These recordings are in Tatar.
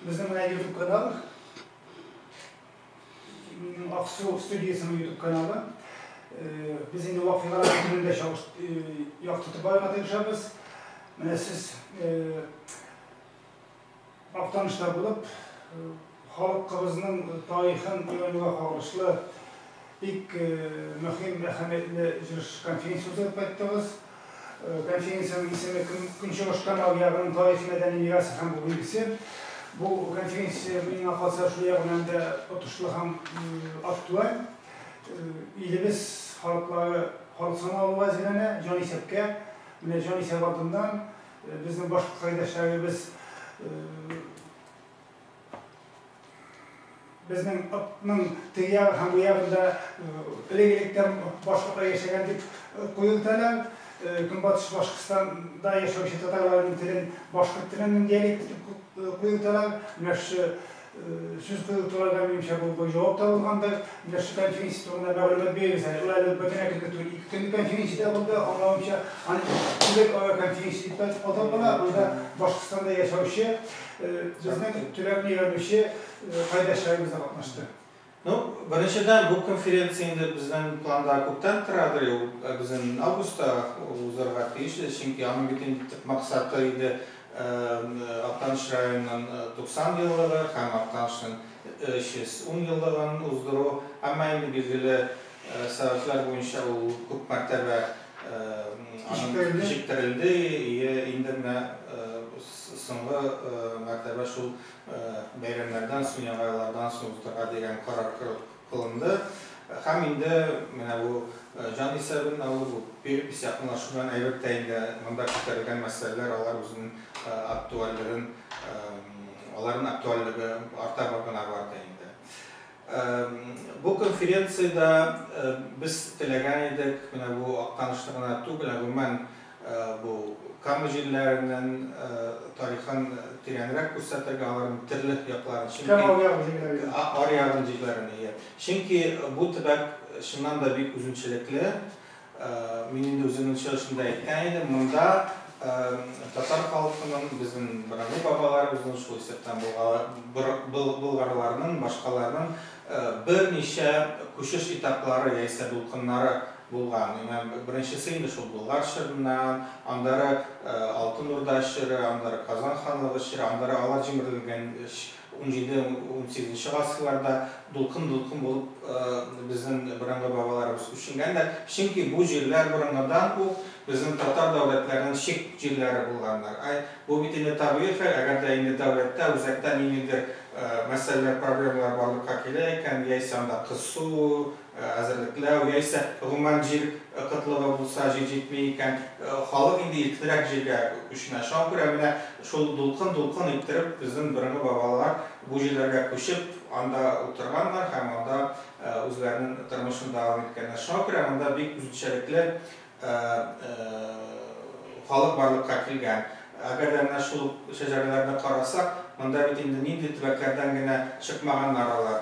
Безнең менә YouTube каналы. Аксу студиясенең YouTube каналы. Без инде вакыйгалар көндә чагыш яктыртып барырга тырышабыз. Менә сез Актаныштан булып, халыкыбызның тарихын өйрәнүгә кагылышлы бик мөһим, әһәмиятле җыелыш-конференция үткәреп кайттыгыз. Конференциянең исеме Көнчыгыш Камал ягының тарихи-мәдәни мирасы һәм бу билгесе. Бу конференция, миңа калса, шул ягы белән дә отышлы һәм актуаль. Илебез халыклары халык саналуга әзерләнә, җанисәпкә. Менә җанисәп алдыннан. Безнең башкорт кайдәшләребез безнең ның теге ягы һәм бу ягында элек-электән башкортлар яшәгән дип куелтәләр. Көнбатыш Башкортстанда яшәүче татарларның телен башкорт теленең диалекты дип куелтәләр. Менә шушы Сүз куюлык турарга минемчә бу бу җавап та булгандыр. Менә шул конференция турында мәгълүмат бирегез әле. Ул әле бөтенләй кенә түгел. Ике көнлек конференция дә булды, аңлавымча. Аны Төбәк ара конференция дип тә атап була. Анда Башкортстанда яшәүче, безнең төбәкне өйрәнүче кайдәшләребез дә катнашты. Ну, беренчедән, бу конференция инде безнең планда күптән торадыр, ул безнең августта узарга тиеш иде, чөнки аның бит инде төп максаты иде Актаныш районының 90 еллыгы һәм Актанышның 310 еллыгын уздыру. Әмма инде билгеле сәбәпләр буенча ул күп мәртәбә кичектерелде, и инде менә соңгы мәртәбә шул Бәйрәмнәрдән соң, яңа еллардан соң уздырырга дигән карар кылынды. Һәм инде менә бу җан исәбен алу, бу биреп ис якынлашу белән әйбәт тә инде монда күтәрелгән мәсьәләләр алар үзенең актуальлеген, аларның актуальлеге арта гына барды инде. Бу конференциядә без теләгән идек, менә бу Актанышны гына түгел, ә гомумән бу Кама җирләренең тарихын тирәнрәк күрсәтергә, аларның төрле якларын, чөнки Кама аръягын җирләрен ди. Аръягын җирләрен, ие. Чөнки бу төбәк чыннан да бик үзенчәлекле, Мин инде үземнең чыгышымда әйткән идем, монда татар халкының, безнең борынгы бабаларыбызның, шул исәптән болгарларның, башкаларның берничә күчеш этаплары яисә дулкыннары булган. Менә беренчесе инде шул Болгар чорыннан, аннары Алтын Урда чоры, аннары Казан ханлыгы чоры, аннары алар җимерелгәнч Унҗиде-унсигезенче гасырларда дулкын-дулкын булып безнең борынгы бабаларыбыз күченгәннәр, чөнки бу җирләр борынгыдан ук безнең татар дәүләтләренең чик җирләре булганнар. Бу бит инде табигый хәл, әгәр дә инде дәүләттә үзәктә ниндидер мәсьәләләр, проблемалар барлыкка килә икән, яисә анда кысу, әзерлекләү, яисә гомумән җир кытлыгы булса, җир җитми икән, халык инде иркенрәк җиргә күченә. Шуңа күрә менә шул дулкын-дулкын иттереп безнең борынгы бабалар бу җирләргә күчеп, анда утырганнар һәм анда үзләренең тормышын дәвам иткәннәр. Шуңа күрә монда бик үзенчәлекле Ә халык барлыкка килгән. Әгәр дә менә шул ук шәҗәрәләрне карасак, монда бит инде нинди төбәкләрдән генә чыкмаганнар алар.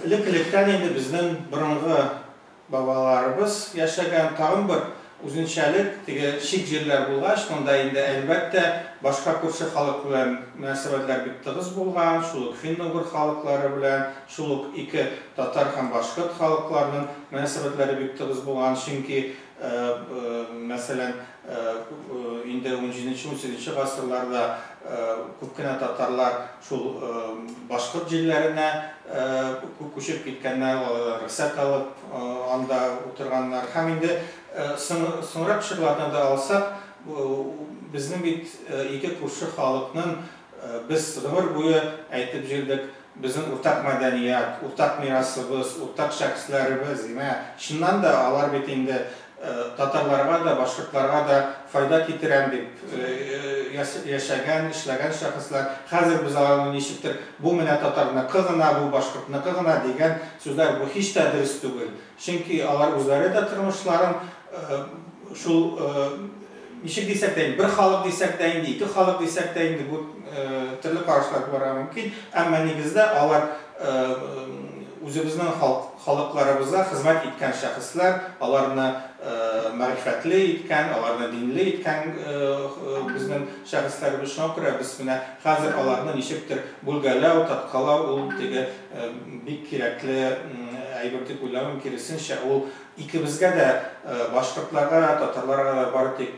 Элек-электән инде безнең борынгы бабаларыбыз яшәгән, тагын бер үзенчәлек, теге чик җирләр булгач, монда инде, әлбәттә, башка күрше халык белән мөнәсәбәтләр бик тыгыз булган, шул ук финно-угыр халыклары белән, Шул ук ике татар һәм башкорт халыкларының мөнәсәбәтләре бик тыгыз булган, чөнки, мәсәлән, инде унҗиденче-унсигезенче гасырларда күп кенә татарлар шул башкорт җирләренә күчеп киткәннәр, алардан рөхсәт алып, анда утырганнар. Һәм инде соңрак чорларны да алсак, безнең бит ике күрше халыкның, без гомер буе әйтеп җөрдек, Безнең уртак мәдәният, уртак мирасыбыз, уртак шәхесләребез, димәк, чыннан да, алар бит инде татарларга да, башкортларга да файда китерәм дип яшәгән, эшләгән шәхесләр. Хәзер без аларны ничектер, бу менә татарныкы гына, бу башкортныкы гына дигән сүзләр, бу һич тә дөрес түгел. Чөнки алар үзләре дә тормышларын шул, ничек дисәк тә инде, бер халык дисәк тә инде, ике халык дисәк тә инде, бу төрле карашлар булырга мөмкин, әмма нигездә алар үзебезнең халыкларыбызга хезмәт иткән шәхесләр, аларны мәгърифәтле иткән, аларны динле иткән безнең шәхесләребез. Шуңа күрә без менә хәзер аларны ничектер бүлгәләү, таткалау, ул теге бик кирәкле әйбер дип уйлыйм, киресенчә, ул икебезгә дә, башкортларга да, татарларга да бары тик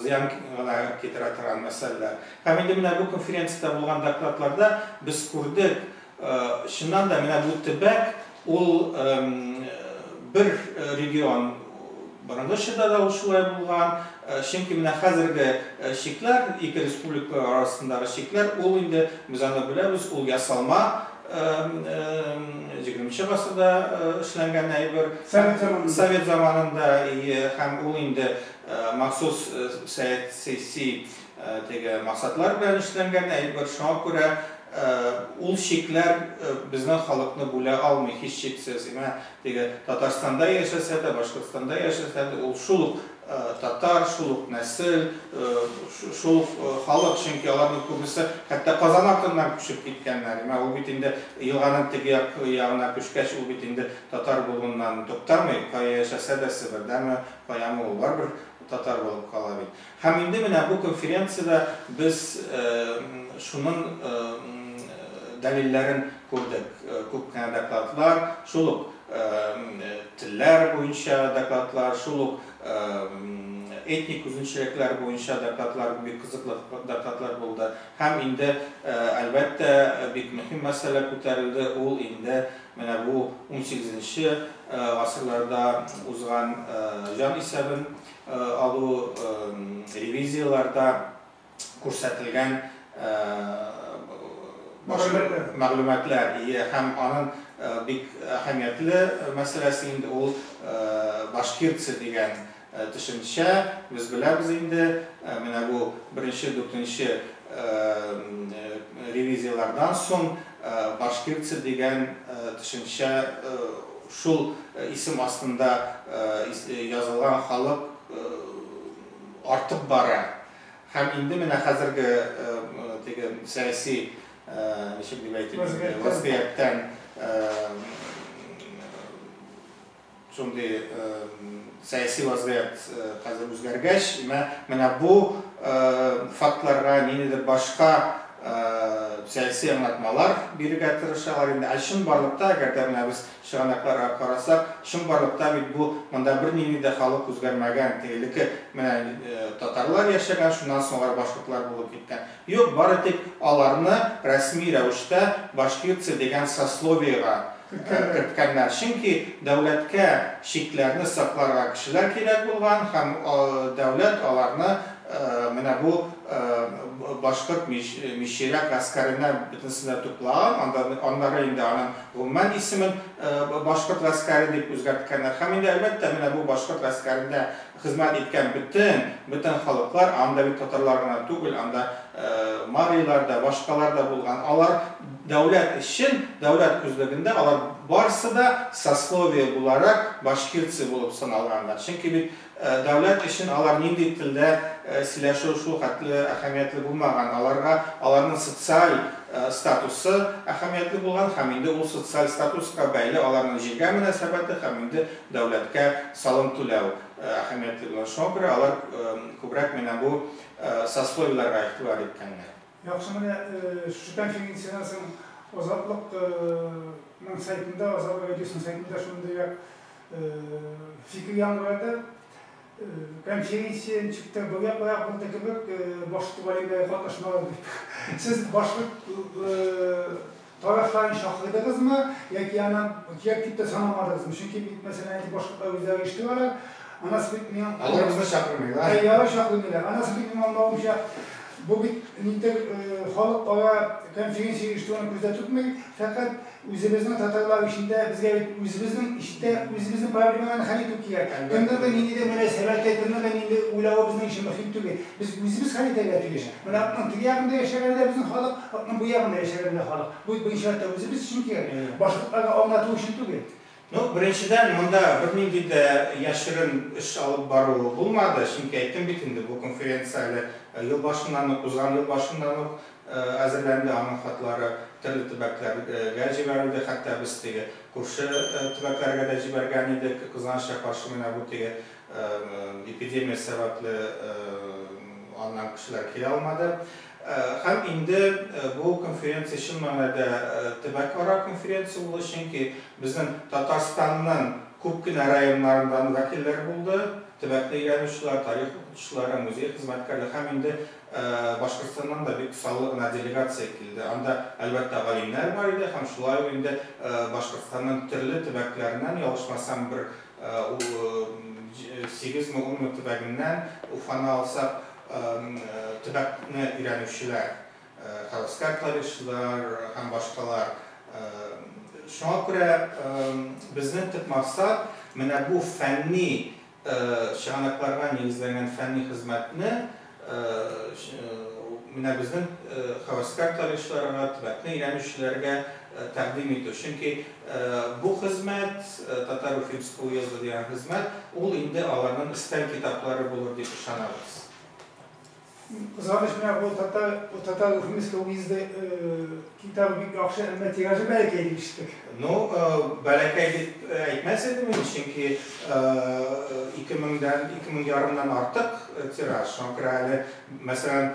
зыян гына китерә торган мәсьәләләр. Һәм инде менә бу конференциядә булган докладларда без күрдек, чыннан да, менә бу төбәк, ул бер регион, Борынгы чорда да ул шулай булган, чөнки менә хәзерге чикләр, ике республика арасындагы чикләр, ул инде, без аны беләбез, ул ясалма, җигерменче гасырда эшләнгән әйбер, совет заманында, ие, һәм ул инде махсус сәяси теге максатлар белән эшләнгән әйбер, шуңа күрә ул чикләр безнең халыкны бүлә алмый, һичшиксез. Теге Татарстанда яшәсә дә, Башкортстанда яшәсә дә, ул шул ук татар, шул ук нәсел, шул ук халык, чөнки аларның күбесе хәтта Казан артыннан күчеп киткәннәр. Менә ул бит инде елганың теге як ягына күчкәч, ул бит инде татар булуыннан туктамый, кая яшәсә дә, Себердәме, каямы, ул барыбер татар булып кала бит. Һәм инде менә бу конференциядә без шуның дәлилләрен күрдек, күп кенә докладлар, шул ук телләр буенча докладлар, шул ук этник үзенчәлекләр буенча докладлар, бик кызыклы докладлар булды. Һәм инде, әлбәттә, бик мөһим мәсьәлә күтәрелде, ул инде менә бу унсигезенче гасырларда узган җан исәбен алу ревизияләрдә күрсәтелгән мәгълүматлар һәм аның бик әһәмиятле мәсьәләсе инде ул башкирцы дигән төшенчә. Без беләбез инде, менә бу беренче дүртенче ревизияләрдән соң Башкирцы дигән төшенчә шул исем астында язылган халык артып бара. Һәм инде менә хәзерге теге сәяси, ничек дип әйтим инде, вазгыятьтән Шундый сәяси вазгыять хәзер үзгәргәч, менә бу фактларга ниндидер башка сәяси аңлатмалар бирергә тырышалар инде. Ә чынбарлыкта, әгәр дә менә без чыганакларга карасак, чынбарлыкта бит бу монда бернинди дә халык үзгәрмәгән. Теге элекке менә татарлар яшәгән, шуннан соң алар башкортлар булып киткән. Юк, бары тик аларны рәсми рәвештә башкирцы дигән сословиега керткәннәр, чөнки дәүләткә чикләрне сакларга кешеләр кирәк булган һәм дәүләт аларны менә бу башкорт мичирәк гаскәренә бөтенесенә туплаган, аннары инде аның гомумән исемен башкорт гаскәре дип үзгәрткәннәр һәм инде, әлбәттә, менә бу башкорт гаскәрендә Хезмәт иткән бөтен, бөтен халыклар, анда бит татарлар гына түгел, анда марийлар да, башкалар да булган. Алар дәүләт өчен, дәүләт күзлегендә алар барсы да сословие буларак башкирцы булып саналганнар. Чөнки бит дәүләт өчен алар нинди телдә сөйләшү шул хәтле әһәмиятле булмаган. Аларга аларның социаль статусы әһәмиятле булган һәм инде ул социаль статуска бәйле аларның җиргә мөнәсәбәте һәм инде Дәүләткә салым түләү әһәмиятле булган. Шуңа күрә алар күбрәк менә бу сословиеләргә игътибар иткәннәр. Яхшы, менә шушы конференциядән соң Азатлык ның сайтында, Азатлык радиосының сайтында шундый як фикер яңгырады. Конференция ничек тә бая бая булды кебек, башкорт галимнәре катнашмаган дип. Сез башкорт тарафларын чакырдыгызмы яки аны кирәк дип тә санамадыгызмы? Чөнки бит, мәсәлән, әйтик, башкортлар үзләре оештыралар. Анасы бит мин. Алар безне чакырмыйлар. Әйе, алар чакырмыйлар. Анасы бит минем аңлавымча, бу бит ниндидер халыкара конференция оештыруны күздә тотмый, фәкать Үзебезнең татарлар эчендә безгә бит үзебезнең эчтә үзебезнең проблемаларны хәл итү кирәк. Кемнең дә ниндидә мөнәсәбәте, кемнең дә нинди уйлавы безнең өчен мөһим түгел. Без үзебез хәл итәргә тиеш. Менә окның теге ягында яшәгәне дә безнең халык, окның бу ягында яшәгәне дә халык. Бу бу ичматта үзебез өчен кирәк. Башкортларга аңлату өчен түгел. Ну, беренчедән, монда бернинди дә яшерен эш алып бару булмады, чөнки әйттем бит инде, бу конференция әле ел башыннан ук, узган ел башыннан ук әзерләнде, аның хатлары төрле төбәкләргә җибәрелде, хәтта без теге күрше төбәкләргә дә җибәргән идек, кызганычка каршы, менә бу теге эпидемия сәбәпле аннан кешеләр килә алмады. Һәм инде бу конференция чын мәгънәдә төбәкара конференция булды, чөнки безнең Татарстанның күп кенә районнарыннан вәкилләр булды, төбәкне өйрәнүчеләр, тарих укытучылары, музей хезмәткәрләре һәм инде Башкортстаннан да бик саллы гына делегация килде. Анда, әлбәттә, галимнәр бар иде һәм шулай ук инде Башкортстанның төрле төбәкләреннән, ялгышмасам, бер сигезме, унмы төбәгеннән, Уфаны алсак, Төбәкне өйрәнүчеләр, хәвәскәр тарихчылар һәм башкалар. Шуңа күрә безнең төп максат, менә бу фәнни чыганакларга нигезләнгән фәнни хезмәтне менә безнең хәвәскәр тарихчыларга, төбәкне өйрәнүчеләргә тәкъдим итү. Чөнки. Бу хезмәт, Татар-Уфимское уезды дигән хезмәт, ул инде аларның өстәл китаплары булыр дип ышанабыз. Кызганыч, менә бу Татар-Уфимское уезды китабы бик яхшы, әмма тиражы бәләкәй дип ишеттек. Ну, бәләкәй дип әйтмәс идем мин, чөнки ике меңдән, ике мең ярымнан артык тираж. Шуңа күрә әле, мәсәлән,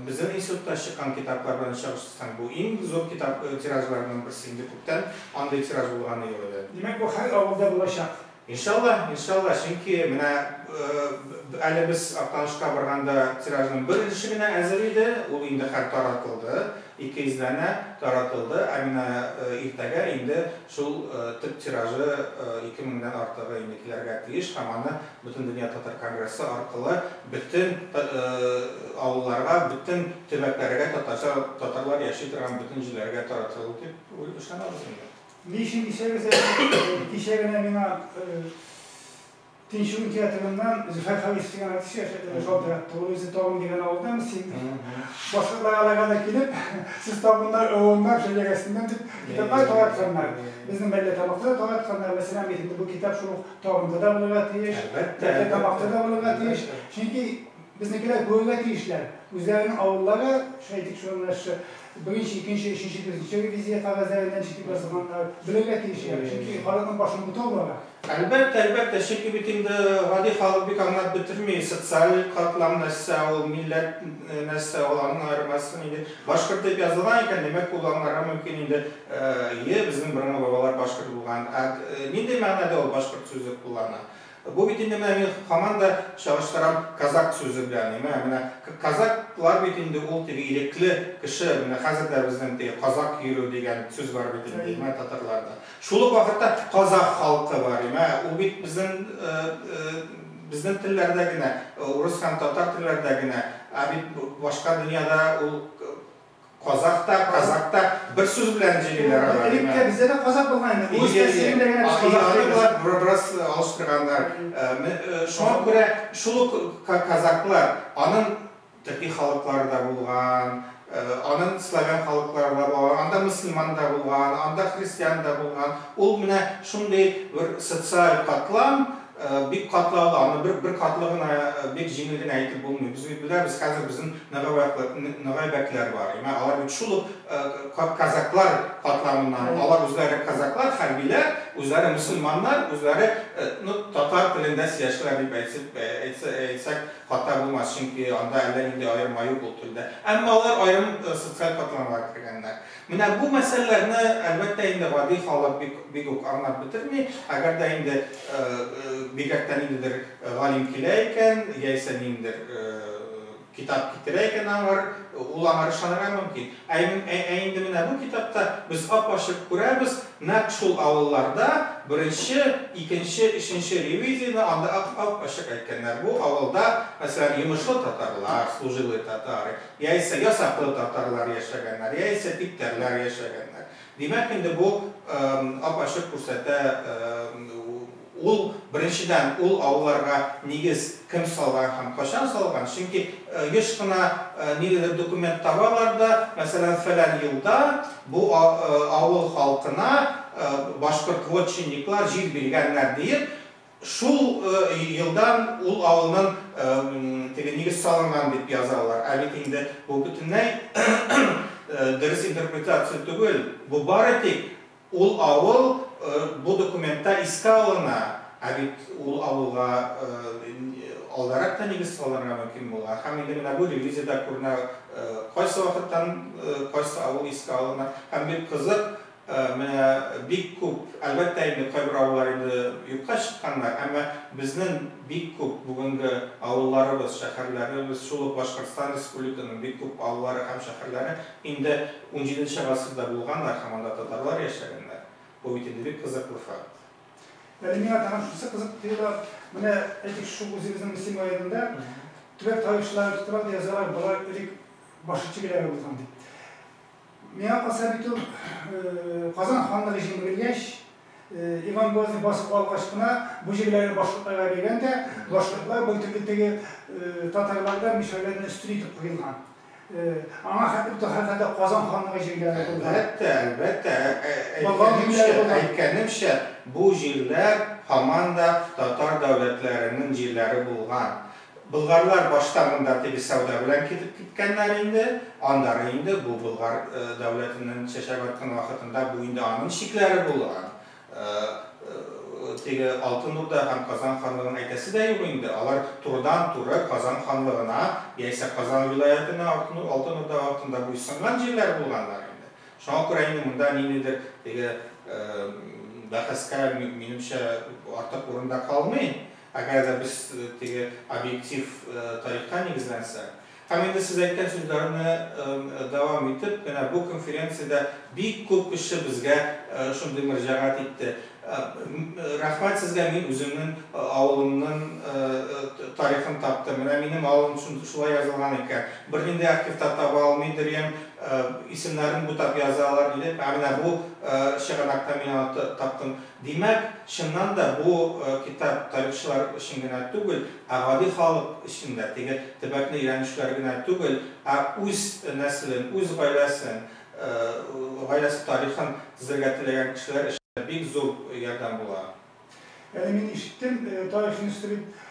безнең институтта чыккан китаплар белән чагыштырсаң, бу иң зур китап тиражларының берсе инде. Тын, андый тираж булганы юк иде. Димәк, бу хәл авылда булачак. Иншалла, иншалла, чөнки менә әле без Актанышка барганда тиражның бер өлеше генә әзер иде, ул инде хәр таратылды, ике йөз данә таратылды, ә менә иртәгә инде шул төп тиражы ике меңдән артыгы инде килергә тиеш һәм аны Бөтендөнья татар конгрессы аркылы бөтен авылларга, бөтен төбәкләргә, татарча татарлар яши торган бөтен җирләргә таратылыр дип ышанабыз инде. Ни өчен дисәгез, әни, кичә генә миңа Тинчурин театрыннан Зөфәр Харис дигән артист шалтыратты. Ул үзе Табын дигән авылдан, син башкортлар алайга да килеп, сез табыннар, ылымнар, шәҗәрәсеннән дип китаплар таратканнар. Безнең Мәлләтамакта да таратканнар. Мәсәлән, бит инде бу китап шул ук Табында да булырга тиеш. Әлбәттә. Бәлки тамакта да булырга тиеш. Чөнки безнекеләр күрергә тиешләр. Үзләренең авыллары, шул әйтик шул менә шы, беренче, икенче, өченче, дүртенче ревизия кәгазьләреннән читеп язылганнар. Белергә тиешләр. Чөнки халыкның башын бутау бара. Әлбәттә, әлбәттә. Чөнки бит инде гади халык бик аңлап бетерми, социаль катлам нәрсә ул, милләт нәрсә ул, аның аермасы нинди. Башкорт дип язылган икән, димәк, ул аңларга мөмкин инде. Йе, безнең борынгы бабалар башкорт булган. Ә нинди мәгънәдә ул башкорт сүзе куллана? Бу бит инде менә мин хаман да чагыштырам казак сүзе белән. Мә, менә казаклар бит инде ул теге ирекле кеше. Менә хәзер дә безнең теге казак йөрү дигән сүз бар бит инде, мә, татарларда. Шул ук вакытта казах халкы бар, мә, ул бит безнең, безнең телләрдә генә, урыс һәм татар телләрдә генә, ә бит башка дөньяда ул, Казах та, казак та, бер сүз белән җырлыйлар алар. Элек тә бездә дә казак булган инде, үз тәэсирендә генә без казах дибез. Алар бераз алыштырганнар. Шуңа күрә шул ук казаклар, анын төрки халыклары да булган, анын славян халыклары да булган, анда мөселман да булган, анда христиан да булган, ул менә шундый бер социаль катлам, Бик катлаулы, аны бер бер катлы гына, бик җиңел генә әйтеп булмый. Без бит беләбез, хәзер безнең ныгавәкләр, ногайбәкләр бар. Имә алар бит шул ук казаклар катламыннан, алар үзләре казаклар, хәрбиләр, үзләре мөселманнар, үзләре, ну, татар телендә сөйләшәләр дип әйтсеп, әйтсә, әйтсәк хата булмас, чөнки анда әллә нинди аерма юк ул телдә. Әмма алар аерым социаль катламга кергәннәр. Менә бу мәсьәләләрне, әлбәттә инде, гади халык бик бик үк аңлап бетерми, әгәр дә инде бигрәк тә ниндидер галим килә икән, яисә ниндидер китап китерә икән аңар, ул аңар ышанырга мөмкин. Ә ә инде менә бу китапта без ап-ачык күрәбез, нәкъ шул авылларда беренче, икенче, өченче ревизияне анда ап-ап-ачык әйткәннәр. Бу авылда, мәсәлән, йомышлы татарлар, служилые татары, Яисә ясаклы татарлар яшәгәннәр, яисә типтәрләр яшәгәннәр. Димәк, инде бу ап-ачык күрсәтә, ул, беренчедән, ул авылларга нигез кем салган һәм кайчан салган, чөнки еш кына нидедер документ табалар да, мәсәлән, фәлән елда бу авыл халкына башкорт вотчинниклар җир биргәннәр диеп, Шул елдан ул авылның теге нигез салынган дип язалар, ә бит инде бу бөтенләй дөрес интерпретация түгел, бу бары тик ул авыл бу документта искә алына, ә бит ул авылга алдарак та нигез салынырга мөмкин булган һәм инде менә бу ревизиядә күренә кайсы вакыттан кайсы авыл искә алына һәм бик кызык Менә бик күп, әлбәттә инде, кайбер авыллар инде юкка чыкканнар, әмма безнең бик күп бүгенге авылларыбыз, шәһәрләребез, шул ук Башкортстан Республиканың бик күп авыллары һәм шәһәрләре инде унҗиденче гасырда булганнар һәм анда татарлар яшәгәннәр. Бу бит инде бик кызыклы факт. Әле миңа тагын шусы кызык тоела, менә, әйтик, шул үзебезнең Мөслим районында төбәк тарихчылары тоталар да язалар, болар элек башкирче геләр булган дип. Миңа калса бит ул Казан ханлыгы җимерелгәч, Иван Грозный басып алгач кына бу җирләрне башкортларга биргән дә, башкортлар бер төрле теге татарлардан, мишәрләрдән өстен итеп куелган. Аңа хәтле бит ул һәрхәлдә Казан ханлыгы җирләре булды. Әлбәттә, әлбәттә. Болгар җирләре булды. Әйткәнемчә, бу җирләр һаман да татар дәүләтләренең җирләре булган. Болгарлар башта монда теге сәүдә белән китеп киткәннәр инде, аннары инде бу Болгар дәүләтенен чәчәк аткан вакытында бу инде анын чикләре булган. Теге Алтын Урда һәм Казан ханлыгын әйтәсе дә юк инде, алар турыдан-туры Казан ханлыгына яисә Казан вилаятына Алтын Урда вакытында буйсынган җирләр булганнар инде. Шуңа күрә инде монда ниндидер теге бәхәскә, минемчә, артык урын да калмый. Әгәр дә без теге объектив тарихка нигезләнсәк. Һәм инде сез әйткән сүзләрне дәвам итеп, менә бу конференциядә бик күп кеше безгә шундый мөрҗәгать итте. Рәхмәт сезгә, мин үземнең авылымның тарихын таптым. Менә минем авылым шулай язылган икән. Бернинди архивта таба алмый дөрьям, исемнәрен бутап язалар, диде. Ә менә бу чыганакта мин аны таптым. Димәк, чыннан да, бу китап тарихчылар өчен генә түгел, ә гади халык өчен дә, теге төбәкне өйрәнүчеләр генә түгел, ә үз нәселен, үз гаиләсен, гаиләсе тарихын төзергә теләгән кешеләр өчен дә бик зур ярдәм була. Әле мин ишеттем, тарих институт дип,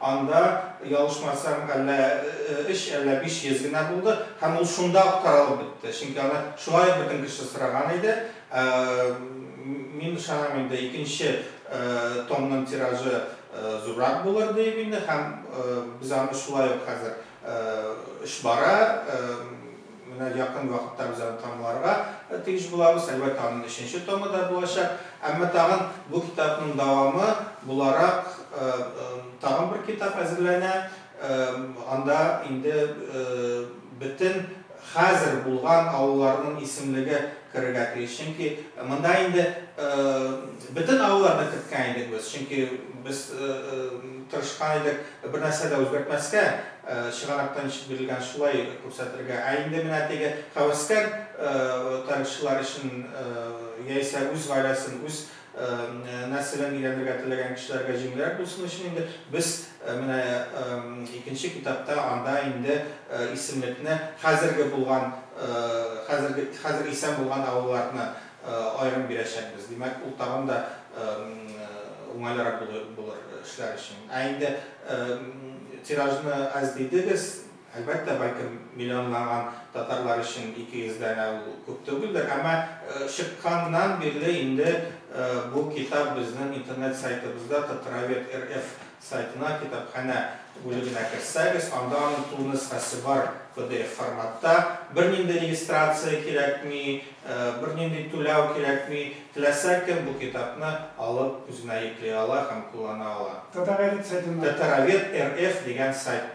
Анда, ялгышмасам, әллә өч, әллә биш йөз генә булды. Һәм ул шунда ук таралып бетте. Чөнки аны шулай ук бөтен кеше сораган иде. Мин ышанам инде, икенче томның тиражы зуррак булыр диеп инде. Һәм без аны шулай ук хәзер эш бара. Менә якын вакытта без аны тәмамларга тиеш булабыз. Әлбәттә, аның өченче томы да булачак. Әмма тагын бу китапның дәвамы буларак тагын бер китап әзерләнә. Анда инде бөтен хәзер булган авылларның исемлеге керергә тиеш. Чөнки монда инде бөтен авылларны керткән идек без. Чөнки без тырышкан идек, Бернәрсә дә үзгәртмәскә, чыгарактан ничек бирелгән, шулай күрсәтергә. Ә инде менә теге һәвәскәр тарихчылар өчен, яисә үз гаиләсен, үз нәселен өйрәнергә теләгән кешеләргә җиңелрәк булсын өчен инде без менә икенче китапта анда инде исемлекне хәзерге булган, хәзерге, хәзер исән булган авылларны аерым бирәчәкбез. Димәк, ул тагын да уңайлырак булыр эшләр өчен. Ә инде тиражны әз дидегез, әлбәттә, бәлкем миллионлаган татарлар өчен 200 данә ул күп түгелдер, әмма чыкканнан бирле инде бу китап безнең интернет сайтыбызда Татравед РФ Сайтына, Китапханә бүлегенә керсәгез, анда аның тулы нөсхәсе бар pdf форматта. Бернинди регистрация кирәкми, бернинди түләү кирәкми. Теләсә кем бу китапны алып, үзенә йөкли ала һәм куллана ала. Татаровед сайтында. Татаровед РФ дигән сайт.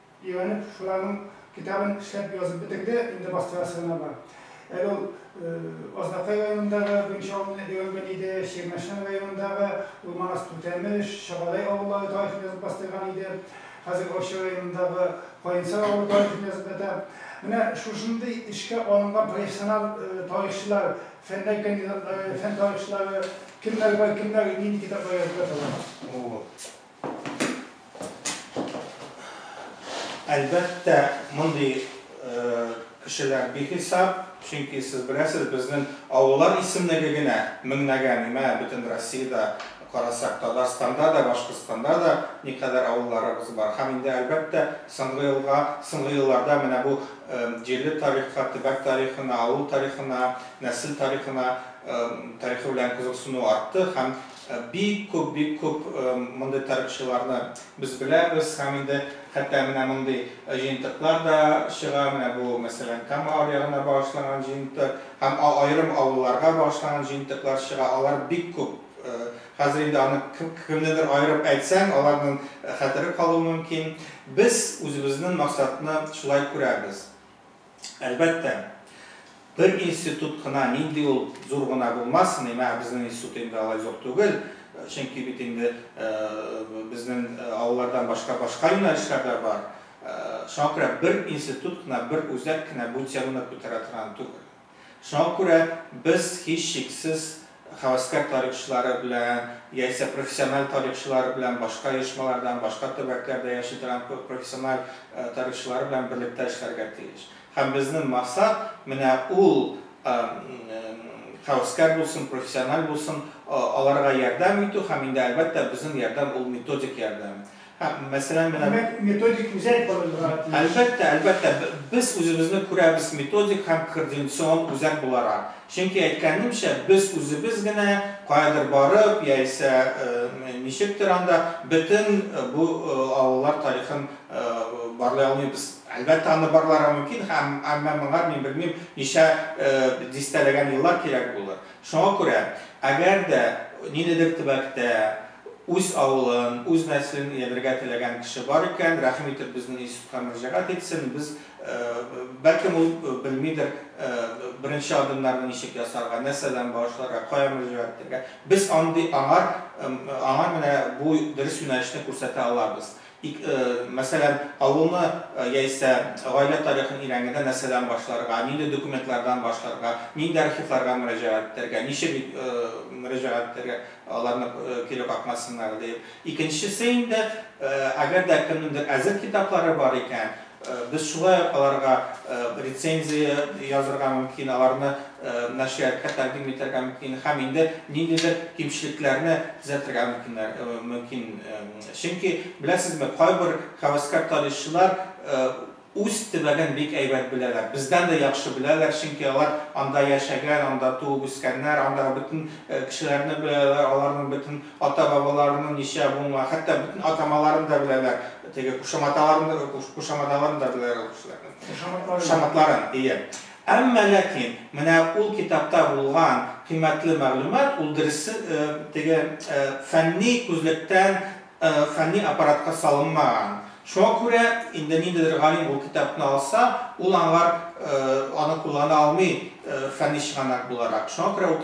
Өйрәнеп, шуларның китабын эшләп язып бетерде, инде бастырасы гына бар. Әле ул Азнакай районындагы беренче авылны өйрәнгән иде, Чирмешән районындагы Урманас Түтәмеш, Чагадәй авыллары тарихын язып бастырган иде, хәзер Арча районындагы Каенсар авылы тарихын язып ята. Менә шушындый эшкә алынган профессионал тарихчылар, фәннәр кандидатлары, фән тарихчылары кемнәр бар, кемнәр нинди китаплар язып яталар? Әлбәттә, мондый кешеләр бихисап, чөнки сез беләсез, безнең авыллар исемлеге генә меңнәгә, мә, бөтен Россиядә карасак, Татарстанда да, Башкортстанда да никадәр авылларыбыз бар. Һәм инде, әлбәттә, соңгы елга, соңгы елларда менә бу җирле тарихка, төбәк тарихына, авыл тарихына, нәсел тарихына тарихы белән кызыксыну артты һәм Бик күп, бик күп мондый тарихчыларны без беләбез һәм инде хәтта менә мондый җыентыклар да чыга, менә бу, мәсәлән, Кама аръягына багышланган җыентык һәм аерым авылларга багышланган җыентыклар чыга, алар бик күп. Хәзер инде аны кемнедер аерып әйтсәң, аларның хәтере калуы мөмкин. Без үзебезнең максатны шулай күрәбез. Әлбәттә, бер институт кына нинди ул зур гына булмасын, имә безнең институт инде алай зур түгел, чөнки бит инде безнең авыллардан башка башка юнәлешләр дә бар, шуңа күрә бер институт кына, бер үзәк кенә бу теманы күтәрә торган түгел. Шуңа күрә без, һичшиксез, һәвәскәр тарихчылары белән яисә профессиональ тарихчылары белән, башка оешмалардан, башка төбәкләрдә яши торган профессиональ тарихчылары белән берлектә эшләргә тиеш. Һәм безнең максат, менә ул, һәвәскәр булсын, профессиональ булсын, аларга ярдәм итү һәм инде, әлбәттә, безнең ярдәм ул методик ярдәм. Һәм, мәсәлән, менә. Димәк, методик үзәк корырга тиеш. Әлбәттә, әлбәттә, без үзебезне күрәбез методик һәм координацион үзәк буларак. Чөнки, әйткәнемчә, без үзебез генә каядыр барып, яисә ничектер анда бөтен бу авыллар тарихын барлый алмыйбыз. Әлбәттә, аны барларга мөмкин, әмма моңар, мин белмим, ничә дистәләгән еллар кирәк булыр. Шуңа күрә, әгәр дә ниндидер төбәктә, Үз авылын, үз нәселен ияләргә теләгән кеше бар икән, рәхим итеп безнең институтка мөрәҗәгать итсен, без, бәлкем ул белмидер беренче адымнарны ничек ясарга, нәрсәдән башларга, кая мөрәҗәгать итәргә. Без андый аңар, аңа менә бу дөрес юнәлешне күрсәтә алабыз. Ик, э, мәсәлән, авылны э, яисә гаилә тарихын өйрәнгәндә нәрсәдән башларга, нинди документлардан башларга, нинди архивларга мөрәҗәгать итәргә, ничек ит- э, мөрәҗәгать итәргә, аларны э, кире какмасыннар диеп. Икенчесе инде, э, әгәр дә кемнеңдер әзер китаплары бар икән, Без шулай ук аларга рецензия язырга мөмкин, аларны нәшрияткә тәкъдим итәргә мөмкин һәм инде ниндидер кимчелекләрне төзәтергә мөмкиннәр, мөмкин. Чөнки, беләсезме, кайбер һәвәскәр тарихчылар үз төбәген бик әйбәт беләләр, бездән дә яхшы беләләр, чөнки алар анда яшәгән, анда туып үскәннәр, андагы бөтен кешеләрне беләләр, аларның бөтен Ата-бабаларының ничә буынга, хәтта бөтен атамаларын да беләләр, теге кушаматаларын да, кушаматаларын да беләләр ул кешеләрнең. Кушаматларын. Кушаматларын, ие. Әмма ләкин менә ул китапта булган кыйммәтле мәгълүмат, ул дөресе, теге фәнни күзлектән фәнни аппаратка салынмаган. Шуңа күрә инде ниндидер галим ул китапны алса, ул аңар аны куллана алмый фәнни чыганак буларак. Шуңа күрә ул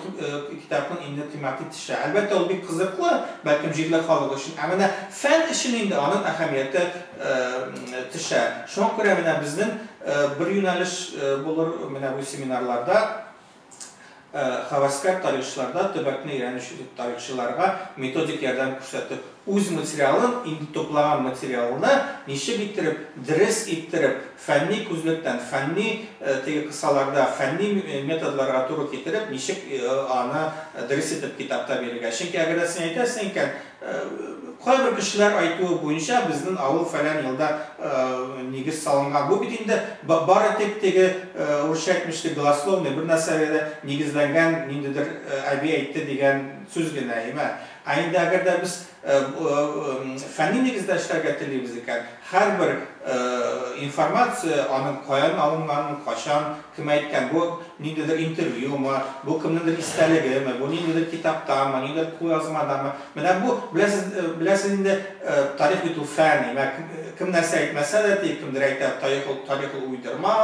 китапның инде кыйммәте төшә. Әлбәттә, ул бик кызыклы, бәлкем, җирле халык өчен, ә менә фән өчен инде аның әһәмияте төшә. Шуңа күрә менә безнең бер юнәлеш булыр менә бу семинарларда. һәвәскәр тарихчыларда төбәкне өйрәнүче тарихчыларга методик ярдәм күрсәтү, үз материалын, инде туплаган материалны ничек иттереп, дерес иттереп, фәнни күзлектән, фәнни теге кысаларда, фәнни методларга туры китереп, ничек аны дерес итеп китапта бирергә. Чөнки әгәр дә син әйтәсең икән, Кайбер кешеләр айтуы буенча, безнен авыл фәлән елда нигез салынган. Бу бит инде бары тик теге, урысча әйтмешли, голословный, бер нәрсәгә дә нигезләнгән ниндидер әби әйтте дигән сүз генә, әйме? Ә инде әгәр дә без фәнни нигездә эшләргә телибез икән, Һәрбер информация, аның каян алынганын, качан, кем әйткән, бу ниндидер интервьюмы, бу кемнеңдер истәлегеме, бу ниндидер китаптамы, ниндидер кулъязмадамы, менә бу, беләсез, беләсез инде, тарих бит ул фән, имә, кем нәрсә әйтмәсә дә, диеп, кемдер әйтә, тарих ул, тарих ул уйдырма,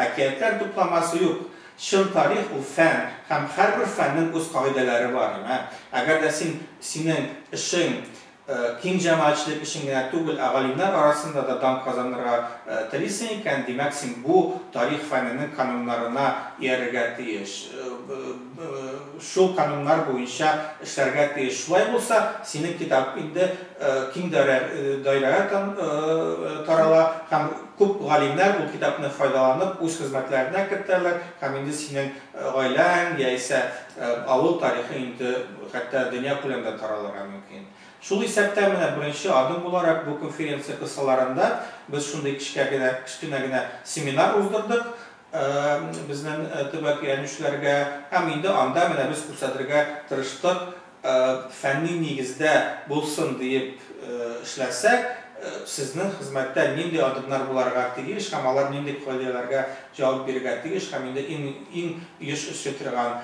әкиятләр тупламасы, юк, чын тарих ул фән, һәм һәрбер фәннең үз кагыйдәләре бар, имә, әгәр дә син, синең эшең Киң җәмәгатьчелек өчен генә түгел, ә галимнәр арасында да дан казанырга телисең икән, димәк, син бу тарих фәненең кануннарына иярергә тиеш. Шул кануннар буенча эшләргә тиеш. Шулай булса, синең китап инде киң даирәгә тарала һәм күп галимнәр ул китапны файдаланып, үз хезмәтләренә кертәләр һәм инде синең Гаиләң яисә авыл тарихы инде хәтта дөнья күләмендә таралырга мөмкин. Шул исәптән менә беренче адым буларак бу конференция кысаларында без шундый кечкә генә, кечкенә генә семинар уздырдык безнең төбәк иярүчеләргә һәм инде анда менә без күрсәтергә тырыштык фәнни нигездә булсын диеп эшләсәк, сезнең хезмәттә нинди адымнар буларга тиеш һәм алар нинди кагыйдәләргә җавап бирергә тиеш һәм инде иң иң еш очрый торган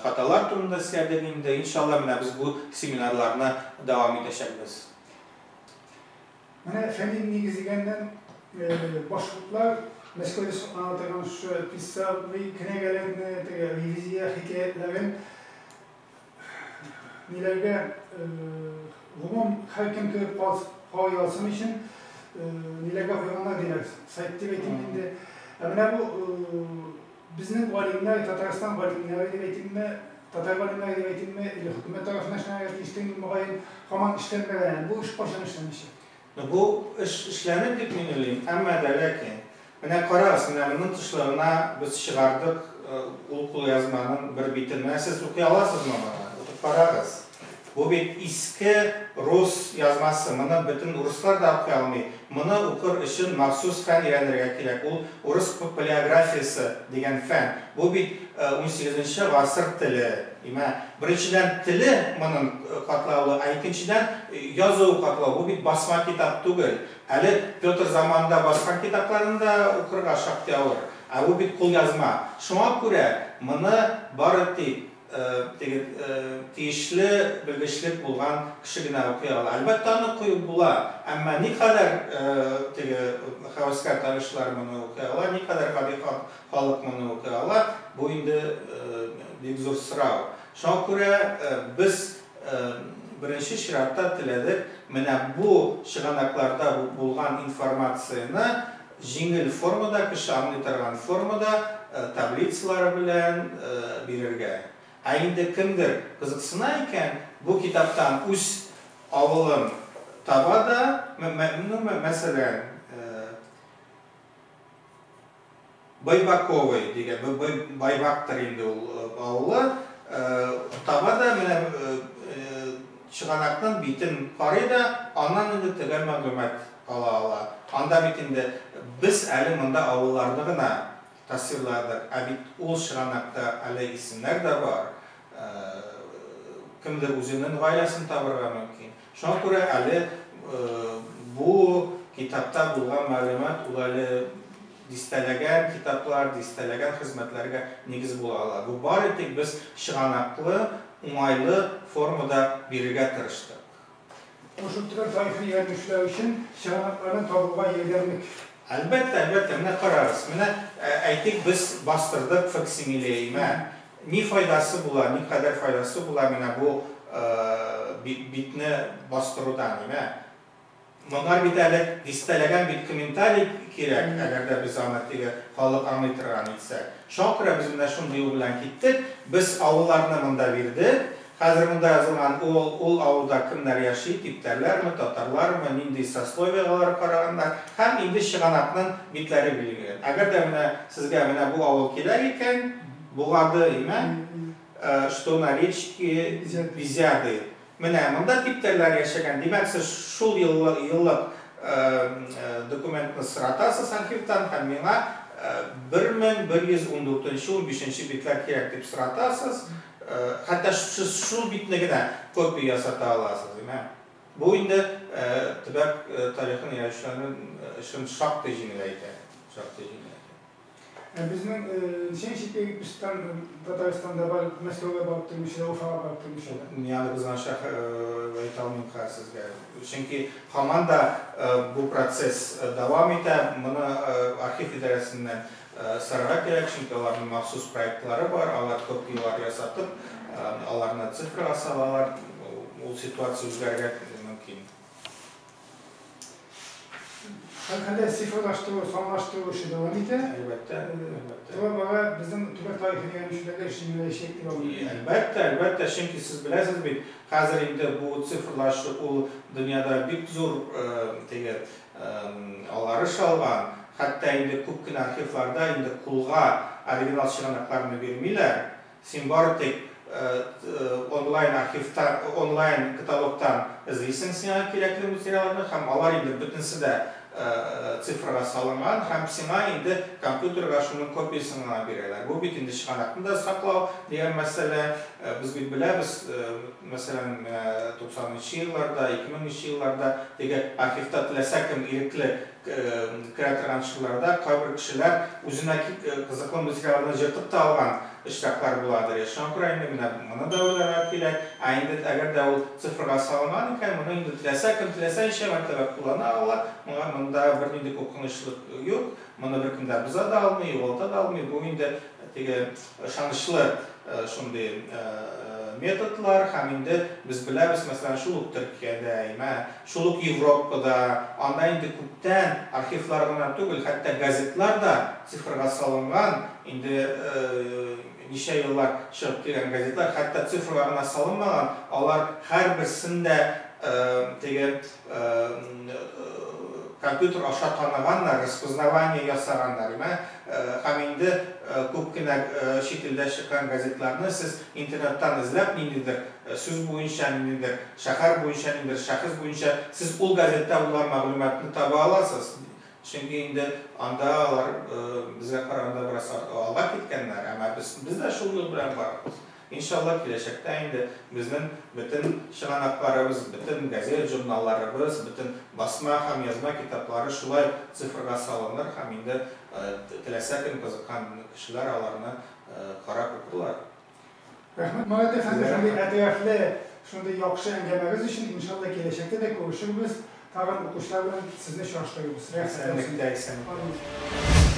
хаталар турында сөйләдек инде. Иншалла, менә без бу семинарларны дәвам итәчәкбез. Менә фәнни нигез дигәннән, башкортлар Мәскәүдә саклана торган шушы писал, кенәгәләрне, теге ревизия хикәятләрен, ниләргә гомум һәркем кереп карый алсын өчен ниләргә куйганнар диләр, сайт дип әйтим инде. Ә менә бу безнең галимнәр, Татарстан галимнәре дип әйтимме, татар галимнәре дип әйтимме, или хөкүмәт тарафыннан эшләнергә тиештер инде, мөгаен, һаман эшләнмәгән әле. Бу эш кайчан эшләнәчәк? Ну бу эш эшләнер дип мин уйлыйм, әмма дә ләкин. Менә карагыз, менә моның тышлыгына без чыгардык ул кулъязманың бер битен. Менә сез укый аласызмы моны? Укып карагыз. Бу бит иске рус язмасы, моны бөтен урыслар да укый алмый. Моны укыр өчен махсус фән өйрәнергә кирәк, ул урыс палеографиясе дигән фән. Бу бит унсигезенче гасыр теле. Имә, беренчедән, теле монын катлаулы, ә икенчедән, язуы катлау. Бу бит басма китап түгел. Әле Петр заманында баскан китапларын да укырга шактый авыр. Ә бу бит кулъязма. Шуңа күрә моны бары тик теге тиешле белгечлек булган кеше генә укый ала. Әлбәттә, аны куеп була, әмма никадәр теге һәвәскәр тарихчылар моны укый ала, никадәр гади халык? халык моны укый ала, бу инде бик зур сорау. Шуңа күрә без беренче чиратта теләдек менә бу чыганакларда булган информацияне җиңел формада, кеше аңлый торган формада, таблицалары белән бирергә. Ә инде кемдер кызыксына икән, бу китаптан үз авылын таба да, мәсәлән, Байбаковый дигән, Байбактыр инде ул авылы. Таба да, менә чыганакның битен карый да, аннан инде төгәл мәгълүмат ала ала. Анда бит инде без әле монда авылларны гына тасвирладык, ә бит ул чыганакта әле исемнәр дә бар. Кемдер үзенен гаиләсен табарга мөмкин. Шуңа күрә әле бу китапта булган мәгълүмат ул әле дистәләгән китаплар, дистәләгән хезмәтләргә нигез була ала. Бу бары тик без чыганаклы, уңайлы формада бирергә тырыштык. Ул шул төбәк тарихын өйрәнеп эшләү өчен чыганакларны табуга ярдәмлек. Әлбәттә, әлбәттә, менә карагыз, менә әйтик без бастырдык факсимиле, имә, Ни файдасы була, никадәр файдасы була менә бу битне бастырудан, димә. Монар бит әле дистәләгән бит комментарий кирәк, әгәр дә без аны теге халык аңлый торган итсәк. Шуңа күрә без менә шундый юл белән киттек. Без авылларны монда бирдек. Хәзер монда язылган ул авылда кемнәр яши, типтәрләрме, татарлармы, нинди сословиегә алар караганнар. Һәм инде чыганакның битләре билгеләнгән. Әгәр дә менә сезгә менә бу авыл кирәк икән, Бугады имә, что на речке Бизяды. Менә монда типтәрләр яшәгән. Димәк, сез шул еллык документны соратасыз архивтан һәм миңа 1114 нче унбишенче битләр кирәк дип соратасыз. Хәтта сез шул битне генә копия ясата аласыз имә. Бу инде төбәк тарихын өйрәнүчеләрнең эшен шактый җиңеләйтә. Шактый җиңеләйтә. Ә безнең ничә ничек егет пешкән Татарстанда бар, Мәскәүгә барып тормыйча да, Уфага барып тормыйча да. Мин аны кызганычка әйтә алмыйм хәзер сезгә. Чөнки һаман да бу процесс дәвам итә. Моны архив идарәсеннән сорарга кирәк, чөнки аларның махсус проектлары бар, алар копияләр ясатып, аларны цифрага салалар. Ул ситуация үзгәрергә мөмкин. Хәле цифрлаштыру, санлаштыру эше дәвам итә. Әлбәттә, әлбәттә. Бу бара безнең төбәк тарихын өйрәнүчеләргә эш җиңеләячәк дип уйлыйм. Әлбәттә, әлбәттә, чөнки сез беләсез бит, хәзер инде бу цифрлашу ул дөньяда бик зур теге аларыш алган, хәтта инде күп кенә архивларда инде кулга оригинал чыганакларны бирмиләр, Син бары тик онлайн архивта, онлайн каталогтан эзлисең сиңа кирәкле материалларны һәм алар инде бөтенесе дә цифрга салынган һәм сиңа инде компьютерга шуның копиясен гына бирәләр. Бу бит инде чыганакны да саклау дигән мәсьәлә. Без бит беләбез, мәсәлән, менә туксанынчы елларда, ике меңенче елларда теге архивта теләсә кем ирекле керә торган төшкеләрдә кайбер кешеләр үзенә кызыклы материалны җыртып та алган очраклар буладыр я. Шуңа күрә инде менә моны да уйларга кирәк. Ә инде әгәр дә ул цифрга салынган икән, моны инде теләсә кем теләсә ничә мәртәбә куллана ала, моңа монда бернинди куркынычлык юк, моны беркем дә боза да алмый, югалта да алмый, бу инде теге Ышанычлы шундый методлар һәм инде без беләбез, мәсәлән, шул ук Төркиядә, имә, шул ук Европада, анда инде күптән архивлар гына түгел, хәтта газетлар да цифрга салынган, инде ничә еллар чыгып килгән газетлар хәтта цифрга гына салынмаган, алар һәрберсен дә теге компьютер аша таныганнар, распознавание ясаганнар, мә, һәм инде күп кенә чит илдә чыккан газетларны сез интернеттан эзләп ниндидер сүз буенча, ниндидер шәһәр буенча, ниндидер шәхес буенча сез ул газеттә булган мәгълүматны таба аласыз, чөнки инде анда алар безгә караганда бераз алга киткәннәр, әмма без дә шул юл белән барабыз. Иншалла, киләчәктә инде безнең бөтен чыганакларыбыз, бөтен газет-журналларыбыз, бөтен басма һәм язма китаплары шулай ук цифрга салыныр һәм инде теләсә кем, кызыккан кешеләр аларны карап укырлар. Рәхмәт, Марат әфәнде, шундый әтәрәфле, шундый яхшы әңгәмәгез өчен. Иншалла, киләчәктә дә күрешербез, тагын укучылар белән сезне чагыштырырбыз. Рәхәт булсын. Исәнлектә, исәнлектә. Амин.